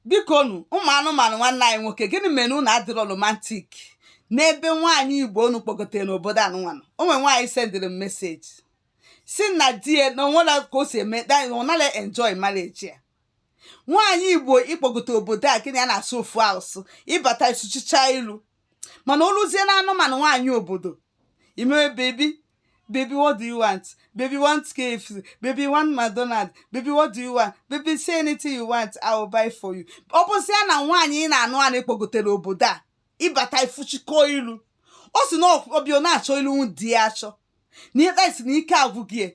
biko nu ụmụ anụmanụ nwanne anyị nwoke gịnị mere unu adịrọ romantik n'ebe nwaanyị igbo unu kpọgotere n'obodo anụnwanụ o nwere nwaanyị sendịrị m meseji sị na di ya na o nwere ka o si eme ọ naghị enjoy marriage ya nwaanyị igbo ị kpọgotere obodo a gị na ya na-asụ ofu asụsụ ị bata ị sụchicha ilu mana o luzie na anụmanụ nwaanyị obodo i mewe baby baby what do you want baby want KFC baby want McDonald baby what do you want baby say anything you want I will buy for you ọ bụzịa na nwaanyị ị na-anụ anụ kpọgotere obodo a ị bata i fuchikọ ilu ọ sị na ọ bịa na-achọ ilu di ya achọ na ikpe sị na ike agwụ gị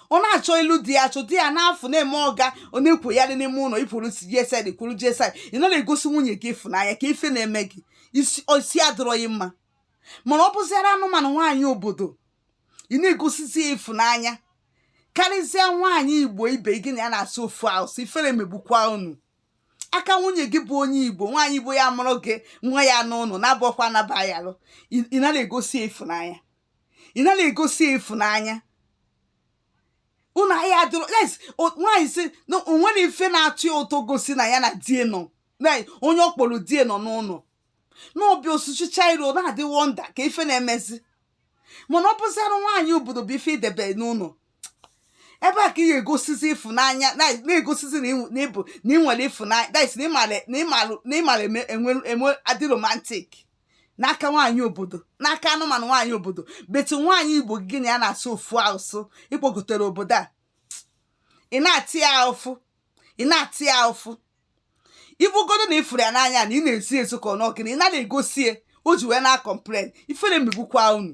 ọ na-achọ ilu di ya achọ di ya n'afọ na-eme ọga ọ na-ekwoyarị n'ime ụlọ ikwuru gsd kwuru gsd ị nara egosi nwunye gị ịfụnanya ka ife na-eme gị isi isi adịrọghị mma mana ọ bụziara anụmanụ nwaanyị obodo ị na-egosizi ya ịfụnanya karịzịa nwaanyị igbo ibe gị na ya na-asụ ofu asụsụ ifere megbukwa unu aka nwunye gị bụ onye igbo nwaanyị igbo ya-amụrụ gị nwa ya n'ụlọ na-abụọkwa anaba ya alụ ị nara egosi ya ịfụnanya ị nara egosi ya ịfụnanya unu ahịa adịrọ yes o- nwaanyị sị na o nwere ife na-atọ ya ụtọ gosi na ya na die nọ na onye ọ kpọrọ die nọ n'ụlọ na ọ bịa ọ sụchicha iru na-adị wọnda ka ife na-emezi mana ọ bụziara nwaanyị obodo bụ ife i debe n'ụlọ ebe a ka ị ga-egosizi ịfụnanya na- na-egosizi na ị- na ị bụ na ị nwere ịfụnanya that is na ị mara na ị mara na ị mara eme- enwe enwe adị romantic n'aka nwaanyị obodo n'aka anụmanụ nwaanyị obodo but nwaanyị igbo gị na ya na-asụ ofu asụsụ ị kpọgotere obodo a ị na-ata ya afụfụ ị na-ata ya afụfụ ibugodo na ị fụrụ ya n'anya na ị na-esi ezo ka ọ n'ọ gịnị ị nara egosi ya o ji wee na-akọmplen ifere megbukwa unu